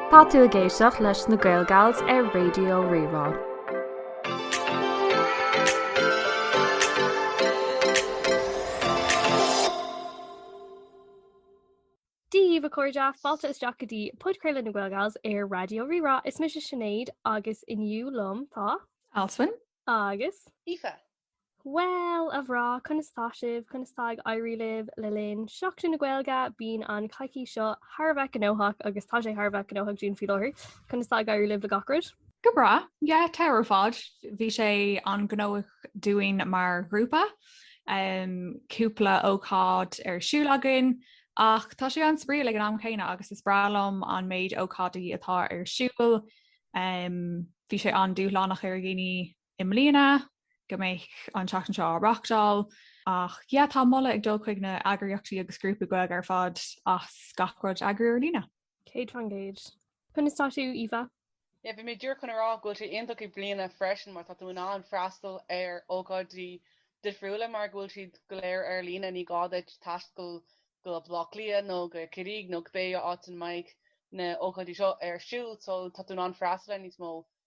Tá tú ag éisteacht leis na GaelGals ar Raidio Rí-Rá. Dia daoibh, a chairde, fáilte isteach go dtí Podchraoladh na GaelGals ar Raidio Rí-Rá. Is mise Sinéad agus inniu liom tá. Alswyn. Agus. Aoife. Bhuel, a bhreá, conas tá sibh, conas tá ag éirí libh le linn Seachtain na Gaeilge? Bíonn an coicís seo thar a bheith gnóthach agus tá sé thar a bheith gnóthach dúinn faoi láthair. Conas tá ag éirí libh le gach rud? Go breá, yeah, thar barr ar fad. Bhí sé an-ghnóthach dúinn mar ghrúpa, um, cúpla ócáid ar siúl againn, ach tá sé an-spraíúil ag an am céanna agus is breá liom an méid ócáidí atá ar siúl. Um, bhí sé an-dúshlánach ar dhaoine i mbliana go mbeidh an tseachtain seo á reáchtáil ach yeah tá moladh ag dul chuig na eagraíochtaí agus grúpaí Gaeilge ar fad as gach rud a eagrú ar líne. Céad faoin gcéad. Conas tá tú, Aoife? Yeah, bhí mé díreach chun a rá go bhfuil sé iontach i mbliana freisin mar tá tú in ann freastal ar ócáidí difriúla mar go bhfuil siad go léir ar líne, ní gá duit taisteal go Baile Átha Cliath nó go Corcaigh nó cibé áit ina mbeidh na hócáidí seo ar siúl so tá tú in ann freastal ar níos mó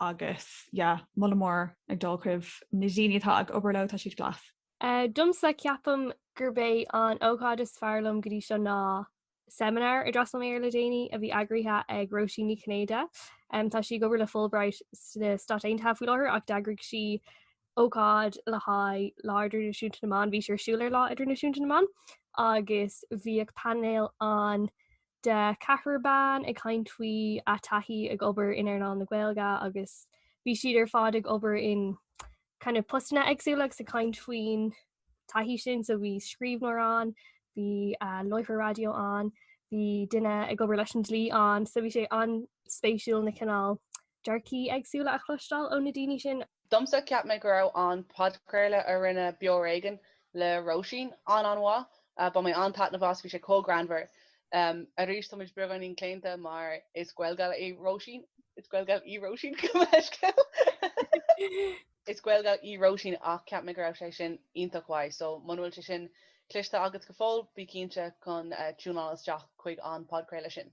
Agus yeah, moladh mór ag dul chuig na daoine atá ag obair leo, tá siad class. Domsa ceapaim gurb é an ócáid is fearr liom go dtí seo ná seimineár a d'fhreastail mé air le déanaí a bhí eagraithe ag Róisín Ní Chinnéide. Tá sí ag obair le Fulbright sna Stáit Aontaithe faoi láthair ach d'eagraigh sí ócáid le haghaidh Lá Idirnáisiúnta na mBan. Bhí sí ar siúl ar Lá Idirnáisiúnta na mBan agus bhí painéal ann de cheathrar ban ag caint faoina dtaithí ag obair in earnáil na Gaeilge agus bhí siad ar fad ag obair in kind of postanna éagsúla agus ag caint faoin taithí sin so bhí scríbhneoir ann, bhí láithreoir raidió ann, bhí duine ag obair leis an dlí ann so bhí sé an-spéisiúil na cineál dearcthaí éagsúla a chloisteáil ó na daoine sin. Domsa cheap mé go raibh an podchraoladh a rinne Beo ar Éigean le Róisín an-an-mhaith. Bhain mé an-taitneamh as agus bhí sé chomh greannmhar. Arís tá muid beagáinín claonta mar is GaelGal é Róisín. Is GaelGal í Róisín, gabh mo leithscéal. Is GaelGal í Róisín ach cheap mé go raibh sé sin iontach mhaith. So muna bhfuil sé sin cloiste agat go fóill, bí cinnte chun tiúnáil isteach chuig an podchraoladh sin.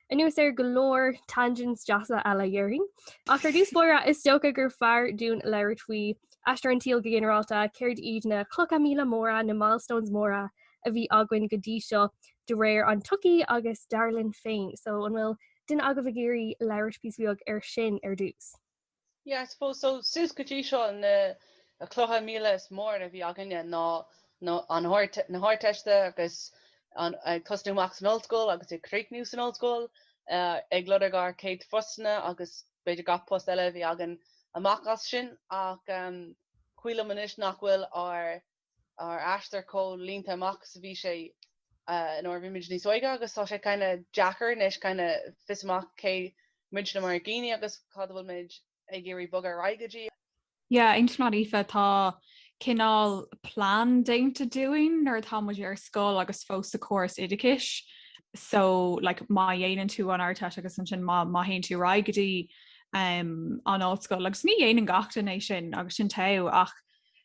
Anuas ar go leor tangents deasa eile dhéarfainn. Ach ar dtús báire, is dócha gur fearr dúinn labhairt faoi aistear an tsaoil go ginearálta, céard iad na clocha míle móra, na milestones móra a bhí againn go dtí seo de réir an tsochaí agus dar linn féin. So, an bhfuil duine agaibh ag iarraidh labhairt píosa beag air sin ar dtús? Yeah, I suppose so, suas go dtí seo na clocha míle is mór a bhí againne ná an Ardteist agus ag tosnú amach san ollscoil agus ag críochnú san ollscoil, ag lorg ár céad phostanna agus b'fhéidir gach post eile a bhí againn amach as sin ach is cuí liom anois nach bhfuil ár ár aistear chomh líneáilte amach is a bhí sé nuair a bhí muid níos óige agus tá sé kind of deacair anois kind of fáil amach cé muidne mar dhaoine agus cad a bhfuil muid ag iarraidh bogadh ar aghaidh go dtí. Yeah, aontaím leat Aoife, tá cineál plean déanta dúinn nuair atá muid ar scoil agus fós sa chóras oideachais, so like má dhéanann tú an Ardteist agus ansin má má théann tú ar aghaidh go dtí um an ollscoil agus ní dhéanann gach duine é sin agus sin teo ach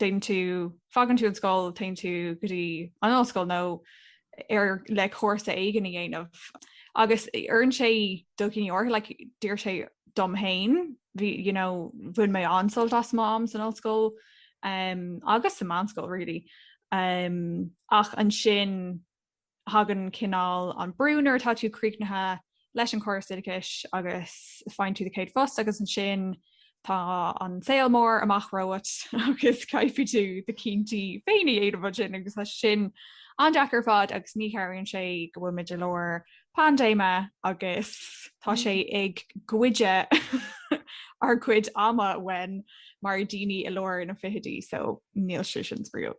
déanann tú, fágann tú an scoil, téann tú go dtí an ollscoil nó ar le cúrsa éigin a dhéanamh. Agus oireann sé do dhaoine áirithe, like, d'oir sé dom féin, bhí, you know, bhain mé an-sult as m'am san ollscoil um agus sa mheánscoil really um ach ansin tagann cineál an brú nuair atá tú críochnaithe leis an gcóras oideachais agus faigheann tú do chéad phost agus ansin tá an saol mór amach romhat agus caithfidh tú do chinntí féin a dhéanamh ansin agus tá sin an-deacair ar fad agus ní chabhraíonn sé go bhfuil muid i lár paindéime agus tá sé mm. ag goid ár gcuid ama uainn mar dhaoine i lár na bhfichidí so níl sé sin spraíúil.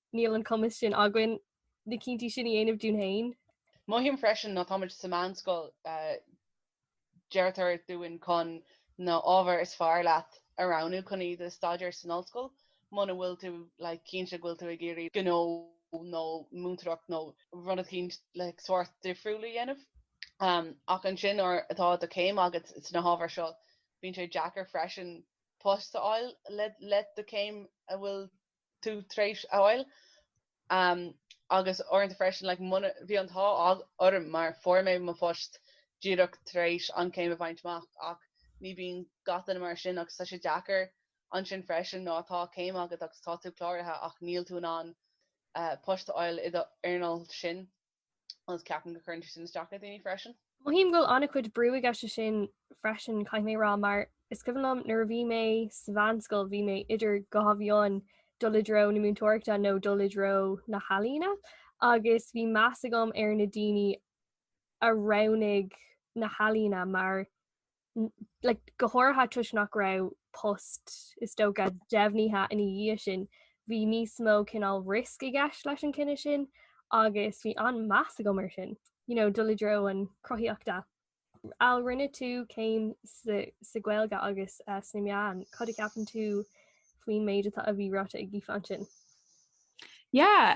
níl an cumas sin againn na cinntí sin a dhéanamh dúinn féin. Mothaím freisin nuair atáimid sa meánscoil, deirtear dúinn chun na hábhair is fearr leat a roghnú chun iad a staidéar san ollscoil muna bhfuil tú like cinnte go bhfuil tú ag iarraidh gnó nó múinteoireacht nó rud eicínt like sórt difriúil a dhéanamh. Ach ansin nuair atá do chéim agat sna hábhair seo bíonn sé deacair freisin post a fháil le do chéim a bhfuil tú tar éis a fháil agus uaireanta freisin like bhí an t-ádh orm mar fuair mé mo phost díreach tar éis an céim a bhaint amach ach ní bíonn gach duine mar sin agus tá sé deacair ansin freisin nuair atá céim agat agus tá tú cláraithe ach níl tú in ann post a fháil san earnáil sin. agus ceapaim go cuireann sé sin isteach le daoine freisin. Mothaím go bhfuil an-chuid brú i gceist sin freisin, caithfidh mé a rá, mar is cuimhin liom nuair a bhí mé sa mheánscoil, bhí mé idir dhá mhian dul i dtreo na múinteoireachta nó dul i dtreo na healaíne agus bhí meas agam ar na daoine a roghnaigh na healaíne mar go háirithe toisc nach raibh post is dócha deimhnithe ina dhiaidh sin, bhí níos mó cineál risk i gceist leis an gcinneadh sin agus bhí an-mheas agam air sin, you know, dul i dtreo an chruthaíochta. Al, rinne tú céim sa Ghaeilge agus sna meáin, cad a cheapann tú faoin méid atá, a bhí ráite ag Aoife ansin? Yeah,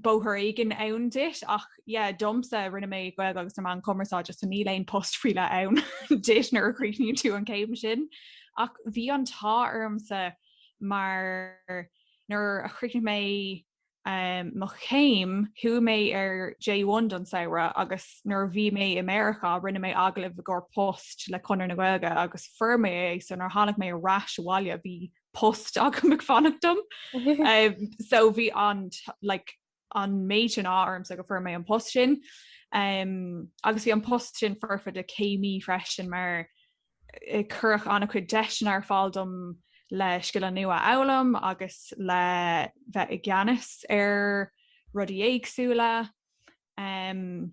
bóthar éigin ann duit ach yeah domsa rinne mé Gaeilge agus na Meáin Chumarsáide so níl aon post faoi leith ann duit nuair a chríochnaíonn tú an céim sin. Ach bhí an t-ádh ormsa mar nuair a chríochnaigh mé um, mo chéim chuaigh mé ar J1 don samhradh agus nuair a bhí mé i Meiriceá rinne mé agallamh i gcomhair post le Conradh na Gaeilge agus fuair mé é so nuair a tháinig mé ar ais abhaile bhí post agam ag fanacht dom. um, so bhí an like, an méid sin ádh ormsa go bhfuair mé an post sin. Um, agus bhí an post sin foirfe do chéimí freisin mar eh, cuireadh an-chuid deiseanna ar fáil dom le scileanna nua a fhoghlaim agus le bheith i gceannas ar rudaí éagsúla. Um,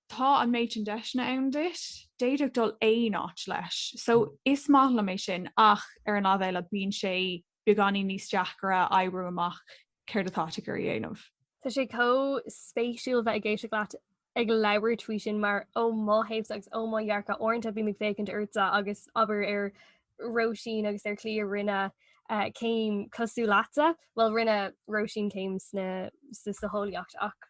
tá an méid sin deiseanna ann duit, d'fhéadfá dul aon áit leis. So is maith liom é sin ach ar an láimh eile bíonn sé beagáinín níos deacaire oibriú amach céard atá tú ag iarraidh a dhéanamh. Tá sé chomh spéisiúil bheith ag éisteacht leat ag labhairt faoi sin mar ó mo thaobhsa agus ó mo dhearcadh, uaireanta bím ag féachaint ortsa agus abair ar Róisín agus ar Chlíona, rinne céim cosúil leatsa, bhuel rinne Róisín céim sna, san eolaíocht ach.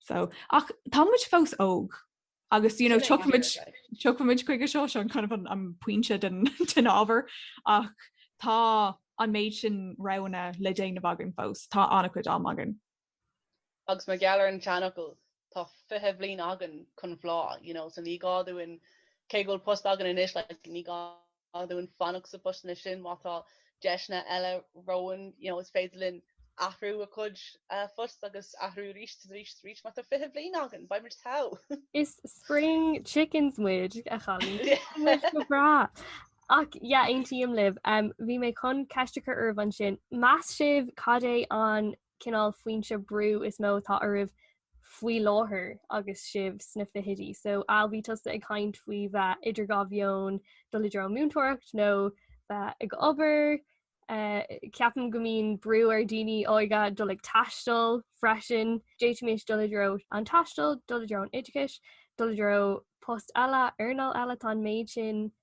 So, ach tá muid fós óg agus you know, tiocfaidh muid chuige seo, an cineál, an pointe den ábhar ach tá an méid sin roghanna le déanamh againn fós, tá an-chuid am againn. Agus mar gheall ar an seanfhocal, tá fiche bliain againn chun bláth, you know, so ní gá dúinn, cé go bhfuil post againn anois, like, ní gá dúinn fanacht sna postanna sin má tá deiseanna eile romhainn, you know, is féidir linn athrú ár gcuid post agus athrú arís is arís is arís má tá fiche bliain againn, beidh muid togha! Is spring chickens muid, a chailíní. Go breá. Ach, yeah, aontaím libh. Bhí mé chun ceist a chur oraibh ansin. Meas sibh cad é an cineál foinse brú is mó atá oraibh faoi láthair agus sibh sna fichidí, so Al, bhí tusa ag caint faoi bheith idir dhá mheon, dul i dtreo múinteoireacht nó bheith ag obair. Eh, ceapaim go mbíonn brú ar dhaoine óga dul ag taisteal freisin. D'fhéadfaimis dul i dtreo an taistil, dul i dtreo an oideachais, dul i dtreo post eile, earnáil eile, tá an méid sin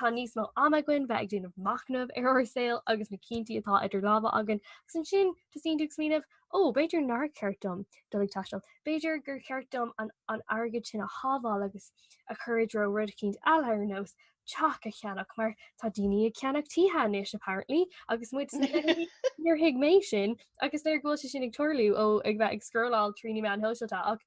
Tá níos mó ama againn bheith ag déanamh machnamh ar ár saol agus na cinntí atá idir lámha againn agus ansin tosaíonn tú ag smaoineamh, 'Ó, b'fhéidir nár cheart dom dul ag taisteal. B'fhéidir gur cheart dom an airgead sin a shábháil agus a chur i dtreo rud éicint eile ar nós teach a cheannach mar tá daoine ag ceannach tithe anois apparently agus muid sna fichidí níor thuig mé sin agus nuair go bhfuil sé sin ag tarlú, ó, ag bheith ag scrolláil trí na meáin shóisialta ach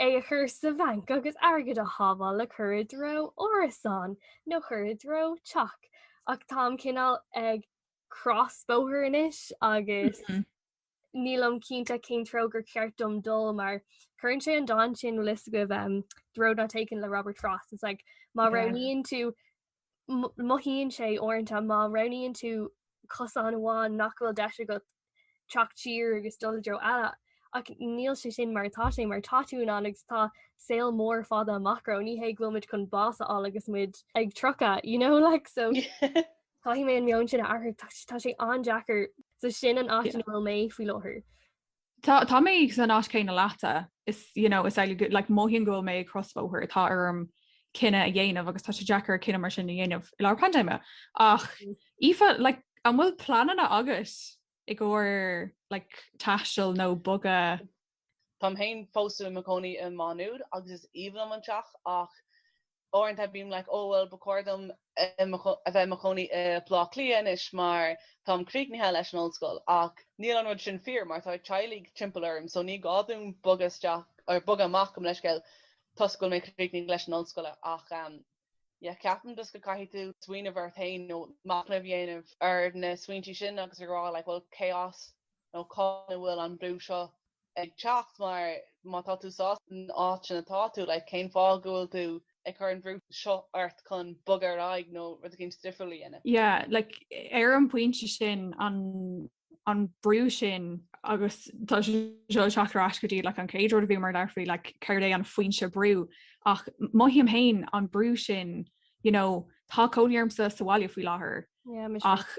é a chur sa bhanc agus airgead a shábháil le cur i dtreo árasán nó cur i dtreo teach. Ach táim cineál ag crosbhóthar anois agus nílim cinnte cén treo gur ceart dom dul mar chuireann sé an dán sin is dóigh, The Road Not Taken le Robert Frost. It's like má roghnaíonn tú mothaíonn sé uaireanta má roghnaíonn tú cosán amháin nach bhfuil deis agat teacht siar agus dul i dtreo eile ach níl sé sin mar atá sé mar tá tú in ann agus tá saol mór fada amach romhat, ní hé go bhfuil muid chun bás a fháil agus muid ag tríocha you know like so caithfidh mé an meon sin a athrú tá sé an-deacair so sin an áit ina bhfuil mé faoi láthair. Tá, tá mé san áit céanna leatsa. Is, you know, is, like, mothaím go bhfuil mé ag crosbhóthar, atá orm cinneadh a dhéanamh agus tá sé deacair cinneadh mar sin a dhéanamh i lár paindéime. Ach, mm. Aoife, like, an bhfuil pleananna agat i gcóir, like, taistil nó bogadh? Táim féin fós i mo chónaí i Má Nuad agus is aoibhinn liom an teach ach Uaireanta bím like oh bhuel ba chóir dom a bheith i mo chónaí i Blá Cliath anois mar táim críochnaithe leis an ollscoil ach níl an rud sin fíor mar tá teaghlaigh timpeall orm so ní gá dom bogadh isteach, ar, bogadh amach gabh mo leithscéal toisc go bhfuil mé críochnaithe leis an ollscoile ach um, yeah, ceapaim just go caithfidh tú smaoineamh ort féin nó machnamh a dhéanamh ar na smaointí sin agus a rá like bhuel cé as nó cá háit a bhfuil an brú seo ag teacht mar má tá tú sásta san áit sin atá tú, like, cén fáth go bhfuil tú ag cur an bhrú seo ort chun bogadh ar aghaidh nó rud éicint difriúil a dhéanamh? Yeah, like, ar an bpointe sin, an an brú sin, agus tá sé seo ag teacht ar ais go dtí, like, an chéad rud a bhí muid ag labhairt faoi, like, céard é an foinse brú, ach mothaím fhéin an brú sin, you know, tá cónaí ormsa sa bhaile faoi láthair, ach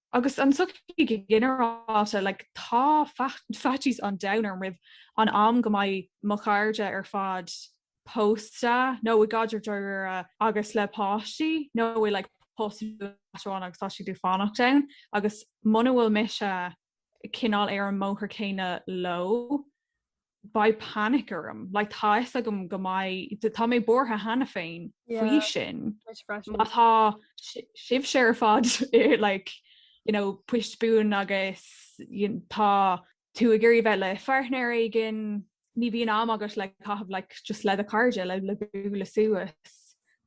Agus an tsochaí go ginearálta, like, tá faitíos an domhain orm roimh an am go mbeidh mo chairde ar fad pósta nó i gcaidreamh dáiríre agus le páistí, nó i, like, post, áit amháin agus tá siad ag fanacht ann. Agus muna bhfuil mise cineál ar an mbóthar céanna leo, beidh panic orm, like tá fhios agam go mbeidh, tá mé buartha cheana féin faoi sin. Má tá sibhse ar fad like, you know, post buan agus tá tú ag iarraidh bheith le páirtnéir éigin, ní bhíonn am agat le caitheamh like, just le do chairde le bualadh suas.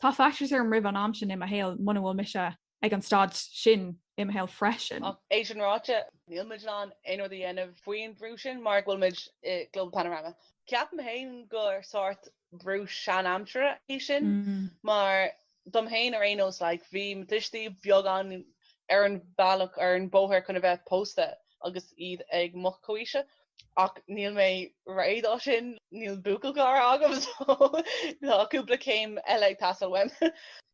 Tá faitíos orm roimh an am sin i mo shaol muna bhfuil mise ag an staid sin i mo shaol freisin. Ach é sin ráite, níl muid in ann aon rud a dhéanamh faoin bhrú sin mar go bhfuil muid i Global Panorama. Ceapaim féin gur sórt brú sean-aimsire é sin mar dom féin ar aon nós, like, bhí mo tuistí beagán ar an bhealach, ar an bóthar chun a bheith pósta agus iad ag mo chomhaois-se. ach níl mé réidh dó sin, níl buachaillchara agam so tá cúpla céim eile ag teastáil uaim.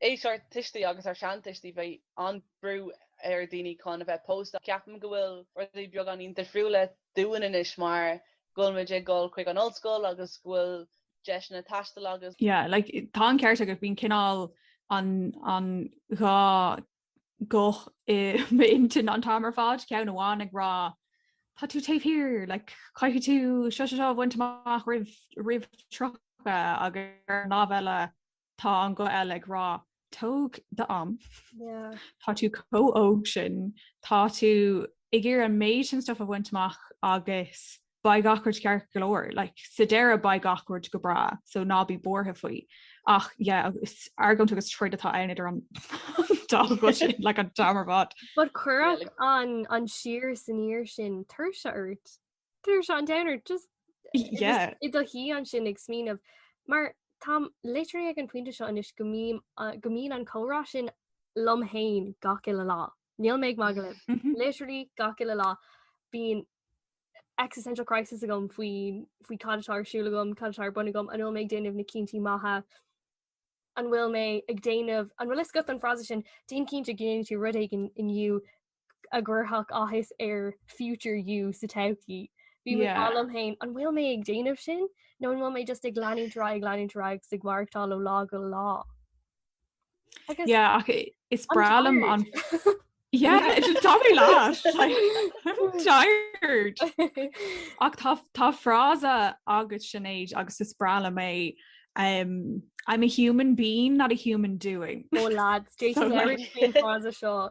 Aois ár tuistí agus ár seantuistí, bheadh an-bhrú ar dhaoine chun a bheith pósta. Ceapaim go bhfuil rudaí beagán níos difriúla dúinn anois mar go bhfuil muid ag dul chuig an ollscoil agus go bhfuil deiseanna taistil agus. Yeah, like tá an ceart agat, bíonn cineál an dá guth i m'intinn an t-am ar fad, ceann amháin ag rá tá tú taobh thiar, like, caithfidh tú seo seo seo a bhaint amach roimh roimh 30 agus ar an lámh eile tá an guth eile ag rá tóg d'am, tá tú chomh óg sin, tá tú ag iarraidh an méid sin stuif a bhaint amach agus beidh gach rud ceart go leor. Like, sa deireadh beidh gach rud go breá, so ná bí buartha faoi. Ach, yeah, is argóint agus troid atá ann idir an dá ghuth sin, like, an t-am ar fad. But cuireadh an, an siar is aniar sin tuirse ort. Tuirse an domhain ort, just Yeah. i do shuí ansin ag smaoineamh. Mar táim literally ag an bpointe seo anois go mbím, uh, go mbíonn an comhrá sin liom féin gach uile lá. Níl mé ag magadh libh. Literally gach uile lá bíonn existential crisis agam faoi faoi cad atá ar siúil agam, cad atá ar bun agam, an bhfuil mé ag déanamh na cinntí maithe, an bhfuil mé ag déanamh an bhfuil fhios agat an frása sin déan cinnte go ndéanann tú rud éigin inniu a chuirfeadh áthas ar future you sa todhchaí. Bím ag rá liom féin an bhfuil mé ag déanamh sin nó an bhfuil mé just ag leanúint ar aghaidh ag leanúint ar aghaidh agus ag maireachtáil ó lá go lá. yeah okay it's bralam on yeah it's just Tommy last like I'm tired ach tá tá frása agus sinnéid agus is brala mé um I'm a human being not a human doing oh lads Jason so, like, seo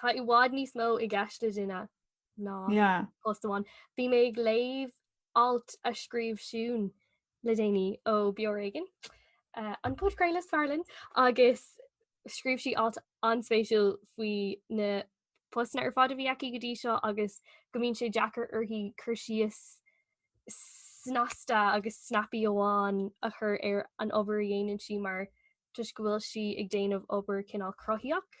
Tá i bhfad níos mó i gceist le duine ná post amháin. Bhí mé ag léamh alt a scríobh Siún le déanaí ó Beo ar Éigean, eh, an podchraoladh is fearr linn, agus scríobh sí alt an-spéisiúil faoi na postanna ar fad a bhí aici go dtí seo agus go mbíonn sé deacair uirthi cur síos snasta agus snappy amháin a chur ar an obair a dhéanann sí mar toisc go bhfuil sí ag déanamh obair cineál cruthaíoch.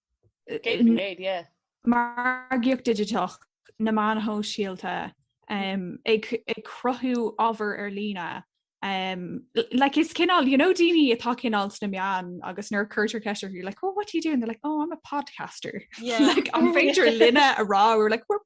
margaíocht digiteach, na meáin shóisialta, ag cruthú ábhar ar líne. Like is cineál, you know daoine atá cineál sna meáin agus nuair a cuirtear ceist orthu, you're like, oh what do you do? And they're like, oh I'm a podcaster. Yeah. like, an féidir linne a rá, we're like, we're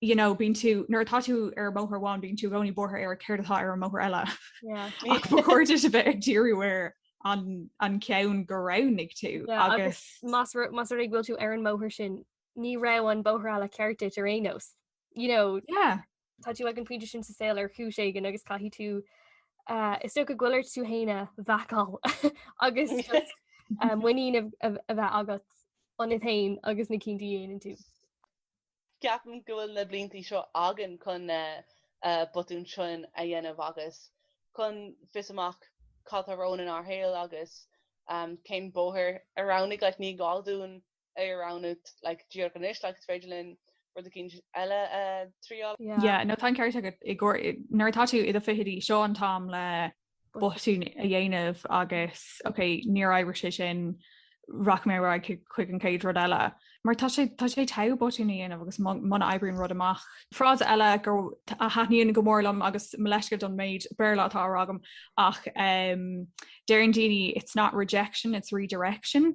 you know, bíonn tú nuair atá tú ar an mbóthar amháin, bíonn tú i gcónaí buartha ar céard atá ar an mbóthar eile. Ach ba chóir duit a bheith ag díriú ar an ceann go roghnaigh tú agus más más ar go bhfuil tú ar an mbóthar sin, ní raibh an bóthar eile ceart duit ar aon nós. You know, Tá tú ag an pointe sin sa saol ar chúis éigin agus caithfidh tú is dóigh go bhfuil tú féin a bheacáil agus muinín a bheith agat ionat féin agus na cinntí a dhéanann tú. Ceapaim go bhfuil na blianta seo againn chun na botúin sin a dhéanamh agus chun fáil amach cad atá romhainn inár shaol agus cén bóthar a roghnaigh. Like ní gá dúinn é a roghnú like díreach anois like is féidir linn rud eicínt eile a thriáil. Yeah, no tá an ceart agat go háirithe nuair atá tú i do fichidí seo an t-am le botún a dhéanamh agus ok níor oibrigh sé sin rachaidh mé ar aghaidh chuig an chéad rud eile. Mar tá sé tá sé ta botún a dhéanamh agus muna oibríonn rud amach. Frása eile go a thaitníonn go mór liom agus mo leithscéal don méid Béarla atá á rá agam ach um, deireann daoine it's not rejection, it's redirection.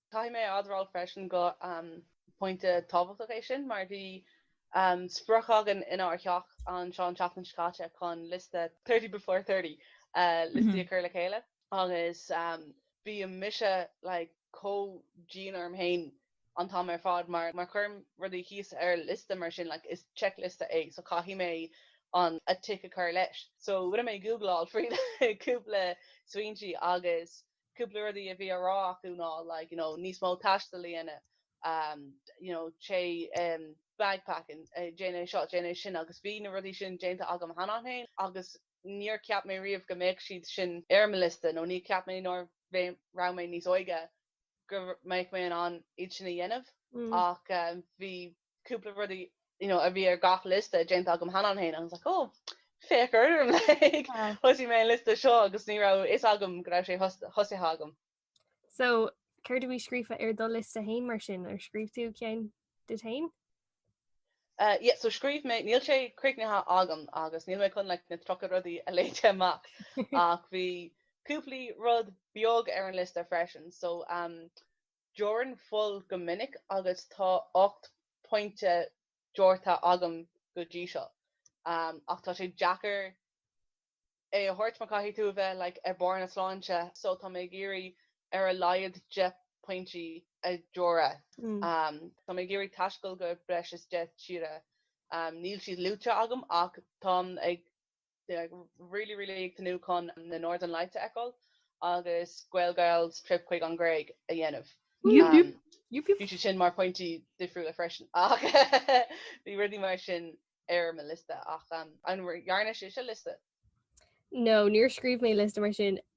Caithfidh mé a admháil freisin gur pointe tábhachtach é sin mar bhí sprioc againn inár theach anseo an tseachtain seo caite chun liosta Thirty Before Thirty liostaí a chur le chéile agus bíonn mise like chomh dian orm féin an t-am ar fad mar má chuirim rudaí thíos ar liosta mar sin like is checkliosta é so caithfidh mé an a tic a chur leis. So rinne mé googleáil faoi cúpla smaointe agus cúpla rudaí a bhí á rá acu ná like, you know, níos mó taistil a dhéanamh, um, you know, téigh um, backpacking, eh, déan seo, déan sin agus bhí na rudaí sin déanta agam cheana féin agus níor cheap mé riamh go mbeadh siad sin ar mo liosta nó níor cheap mé nuair a raibh mé níos óige go mbeadh mé in ann iad sin a dhéanamh ach, um, bhí cúpla rudaí you know, a bhí ar gach liosta déanta agam cheana féin agus like, oh, féach orm like, ah. thosaigh mé an liosta seo agus ní raibh a fhios agam go raibh sé tosaithe agam. So céard a bhí scríofa ar do liosta féin mar sin ar scríobh tú ceann duit féin? Uh, yeah, so scríobh mé níl sé críochnaithe agam agus níl mé chun le like, na tríocha rudaí a léamh amach ach bhí cúpla rud beag ar an liosta freisin so um, Deonaim fuil go minic agus tá ocht bpionta deonta agam go dtí seo ach tá sé deacair é a thabhairt mar caithfidh tú a bheith like ar barr na sláinte so tá mé ag iarraidh ar a laghad deich bpionta a dheonadh. Tá mé ag iarraidh taisteal go breis is deich tíre. Níl siad luaite agam ach táim ag Like really really ag tnúth chun na Northern Lights a fheiceáil agus Gaelgirls trip chuig an Ghréig a dhéanamh. Bhí sé sin mar phointí difriúla freisin ach bhí rudaí mar sin ar mo liosta ach an ndearna sibhse liosta? No, níor scríobh mé liosta mar sin.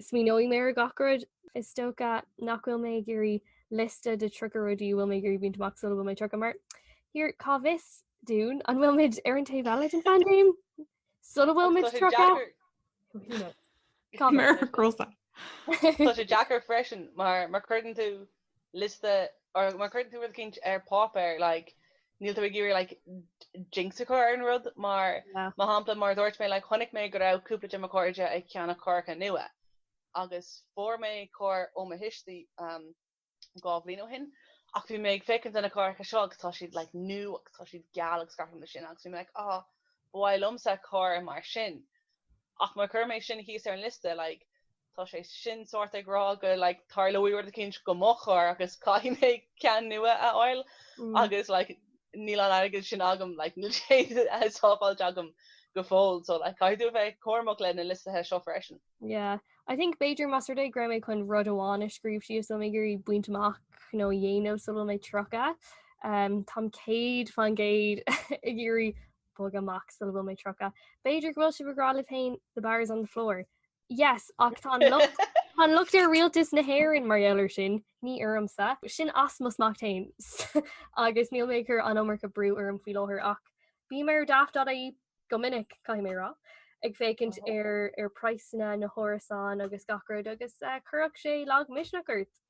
Smaoineoidh mé ar gach rud. Is dócha nach bhfuil mé ag iarraidh liosta de 30 rudaí a bhfuil mé ag iarraidh baint amach sula bhfuil mé 30 mar here, cá bhfios dúinn an bhfuil muid ar an taobh eile den phaindéim sula bhfuil muid 30? Tá sé deacair freisin mar creideann tú liosta or má chuireann tú rud éicint ar páipéar like níl tú ag iarraidh like jinx a chur ar an rud mar mar shampla mar a dúirt mé like chonaic mé go raibh cúpla de mo chairde ag ceannach cáracha nua agus fuair mé carr ó mo thuistí um dhá bhliain ó shin ach bhí mé ag féachaint ar na cáracha seo agus tá siad like new agus tá siad geal agus gach rud mar sin agus bhí mé like ah ba mhaith liomsa carr mar sin ach má chuirim é sin thíos ar an liosta like Tá sé sin sórt ag rá go like tarlóidh rud eicínt do mo charr agus caithfidh mé ceann nua a fháil agus like níl an airgead sin agam like níl sé sábháilte agam go fóill so like caithfidh tú a bheith cúramach le na liostaithe seo freisin. Yeah. I think b'fhéidir más rud é go raibh mé chun rud amháin a scríobh síos a bhfuil mé ag iarraidh baint amach nó a dhéanamh sula bhfuil mé 30 um táim 100% ag iarraidh bogadh amach sula bhfuil mé 30. B'fhéidir go bhfuil sibh ag rá libh féin the bar is on the floor. Yes, ach tá tá an locht ar rialtas na hÉireann mar gheall air sin ní ormsa. Sin as m'ucht féin agus níl mé ag cur an iomarca brú orm faoi láthair ach bím ar daft.ie go minic caithfidh mé a rá ag féachaint ar ar praghsanna na hárasán agus gach rud agus eh, chuirfeadh sé lagmhisneach ort.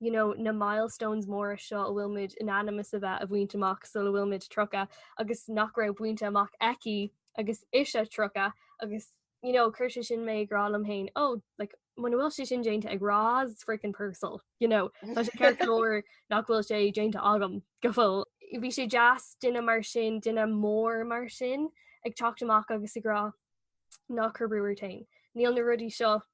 you know, na milestones móra seo a bhfuil muid in ainm is a bheith a bhaint amach sula bhfuil muid 30 agus nach raibh bainte amach aici agus ise 30 agus you know, chuir sé sin mé ag rá liom féin, ó, oh, like, muna bhfuil sé sin déanta ag Roz freaking Purcell, you know, Tá sé ceart go leor nach bhfuil sé déanta agam go fóill. Bhí sé deas duine mar sin duine mór mar sin ag teacht amach agus ag rá ná cuir brú ort féin. Níl na rudaí seo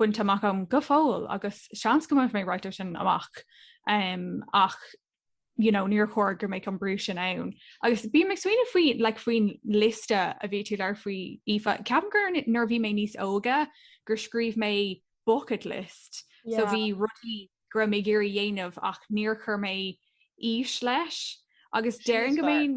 bainte amach agam go fóill agus seans go mbeidh mé ráitear sin amach um, ach you know, níor chóir gur mbeadh an brú sin ann. agus bhí mé ag smaoineamh faoi like, faoin lista a bhí tú ag labhairt faoi Aoife ceapaim gur nuair a bhí mé níos óga gur scríobh mé bucket list yeah. so bhí rudaí go raibh mé ag iarraidh a dhéanamh ach níor chur mé aois leis agus déarfainn go mbeinn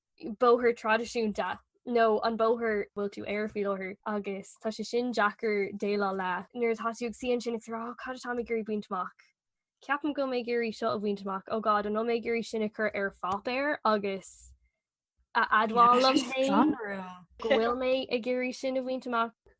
bóthar traidisiúnta nó an bóthar bhfuil tú air faoi láthair agus tá sé sin deacair déileáil le nuair atá tú ag suí ansin ag rá cad atá mé ag iarraidh a bhaint amach. Ceapaim go bhfuil mé ag iarraidh seo a bhaint amach ó God an bhfuil mé ag iarraidh sin a chur ar pháipéar agus a admháil dom féin go bhfuil mé ag iarraidh sin a bhaint amach.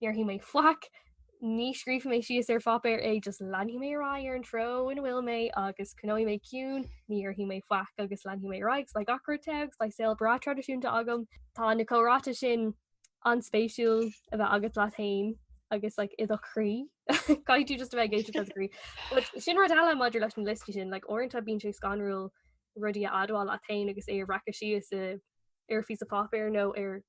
Ní déarfaidh mé faic, ní scríobhfaidh mé síos ar pháipéar é, just leanfaidh mé ar aghaidh ar an treo ina bhfuil mé agus coinneoidh mé ciúin, ní dhéarfaidh mé faic agus leanfaidh mé ar aghaidh, 's like gach rud te agus like saol breá traidisiúnta agam. Tá na comhráite sin an-spéisiúil a bheith agat leat féin agus like i do chroí. Caithfidh tú just a bheith ag éisteacht le do chroí. But sin rud eile maidir leis an liosta sin, like uaireanta bíonn sé scanrúil rudaí a admháil leat féin agus é a bhreacadh síos i- ar phíosa páipéir nó ar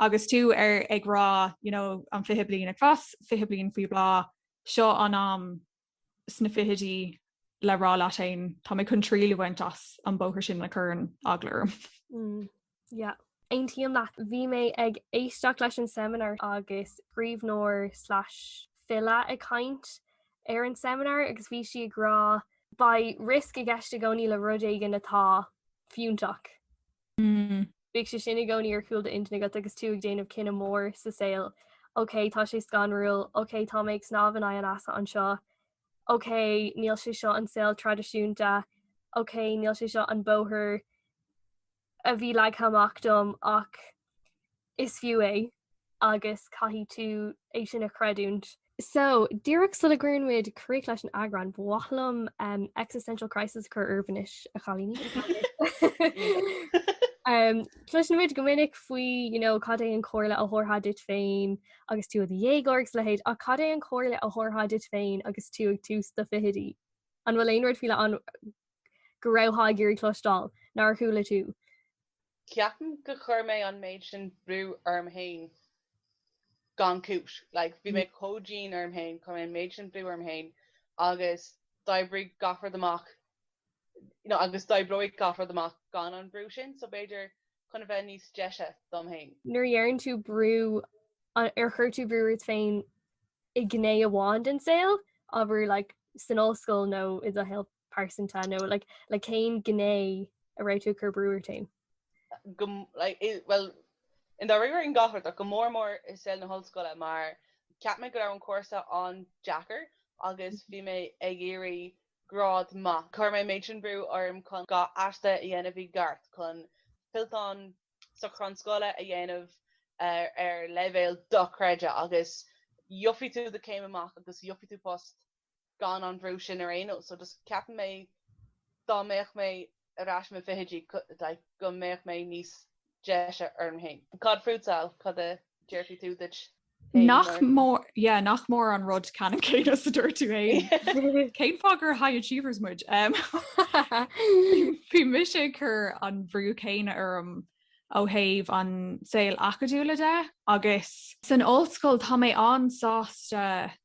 Agus tú ar ag rá, you know, an fiche bliain ag fás, fiche bliain faoi bhláth, seo an am sna fichidí le rá leat fhéin, tá mé chun triail a bhaint as an bóthar sin a chuireann eagla orm. Mm, yeah. Aontaím leat, bhí mé ag éisteacht le seimineár agus scríbhneoir slash file ag caint ar an seimineár agus bhí sí ag rá beidh riosc i gceist i gcónaí le rud éigin atá fiúntach. Mm. Bíodh sé sin i gcónaí ar chúl d'intinn agat agus tú ag déanamh cinneadh mór sa saol, OK, tá sé scanrúil, OK, tá mé ag snámh in aghaidh an easa anseo, OK, níl sé seo an saol traidisiúnta, OK, níl sé seo an bóthar a bhí leagtha amach dom ach is fiú é. agus caithfidh tú é sin a chreidiúint. So, díreach sula gcuireann muid críoch leis an eagrán, ba mhaith liom existential crisis a chur oraibh anois, a chailíní. Cloiseann muid go minic faoi cad é an comhairle a thabharfá duit féin agus tú i do dhéagóir agus a leithéid, ach cad é an comhairle a thabharfá duit féin agus tú ag tús do fichidí? An bhfuil aon rud faoi leith ann? go raibh tú ag iarraidh cloisteáil, nár chuala tú. Ceapaim go chuir mé an méid sin brú orm fhéin gan cúis. Like, bhí mé chomh dian orm fhéin, chuir mé an méid sin brú orm fhéin agus d'oibrigh gach rud amach you know agus d'oibreodh gach rud amach gan an brú sin so b'fhéidir chun a bheith níos deise dom fhéin. Nuair a deireann tú brú ar chuir tú brú ort féin i gné amháin den saol, abair like san ollscoil nó i do shaol pearsanta nó le cén gné a raibh tú ag cur brú ort féin? Well i ndáiríre i ngach áit ach go mór mór i saol na hollscoile mar cheap mé go raibh an cúrsa an-deacair agus bhí mé ag iarraidh grád maith. Chuir mé méid sin brú orm chun gach aiste a dhéanamh i gceart chun fillteán socrúchán scoile a dhéanamh ar leibhéal dochreidte agus gheobhaidh tú do chéim amach agus gheobhaidh tú post gan an bhrú sin ar aon nós. So just ceapann mé dá mbeadh mé ar ais i mo fichidí like go mbeadh mé níos deise orm féin. Cad fútsa? Cad a déarfaidh tú duit féin Nach mór, yeah, nach mór an rud ceannann céanna is a dúirt tú féin. Cén fáth gur high achievers muid? Bhí mise ag cur an bhrú céanna orm ó thaobh an saol acadúla de agus. San ollscoil tá mé an-sásta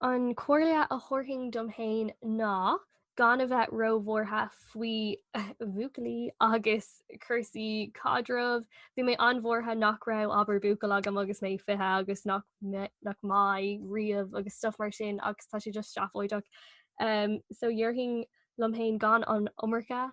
An comhairle a thabharfainn dom féin ná gan a bheith róbhuartha faoi bhuachaillí agus cúrsaí caidreamh. Bhí mé an-bhuartha nach raibh, abair, buachaill agam agus mé 20 agus nach mbeidh riamh agus stuff mar sin agus tá sé just seafóideach. So dhéarfainn liom féin gan an iomarca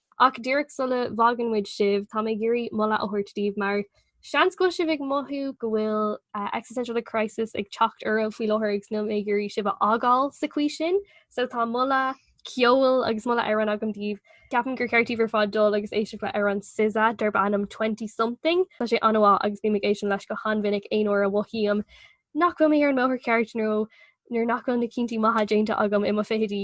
Ach díreach sula bhfágann muid sibh, tá mé ag iarraidh moladh a thabhairt daoibh mar seans go bhfuil sibh ag mothú go bhfuil existential crisis ag teacht oraibh faoi láthair agus níl mé ag iarraidh sibh a fhágáil sa chaoi sin. So tá moladh ceoil agus moladh amhrán agam daoibh. Ceapaim gur cheart daoibh ar fad dul agus éisteacht le amhrán SZA darb ainm Twenty Something. Tá sé an-mhaith agus bím ag éisteacht leis go han-mhinic aon uair a mhothaím nach bhfuil mé ar an mbóthar ceart nó nuair nach bhfuil na cinntí maithe déanta agam i mo fichidí.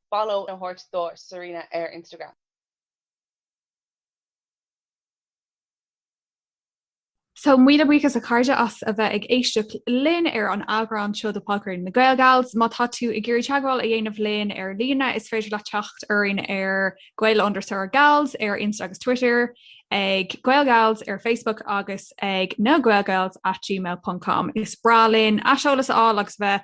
Follow a thabhairt do Serena ar Instagram. So míle buíochas a chairde as a bheith ag éisteacht linn ar an eagrán seo de Podchraoladh na Gael Gals. Má tá tú ag iarraidh teagmháil a dhéanamh linn ar líne, is féidir leat teacht orainn ar gael underscore gals ar Insta agus Twitter, ag Gael Gals ar Facebook agus ag nagaelgals at gmail.com. Is breá linn aiseolas a fháil agus bheith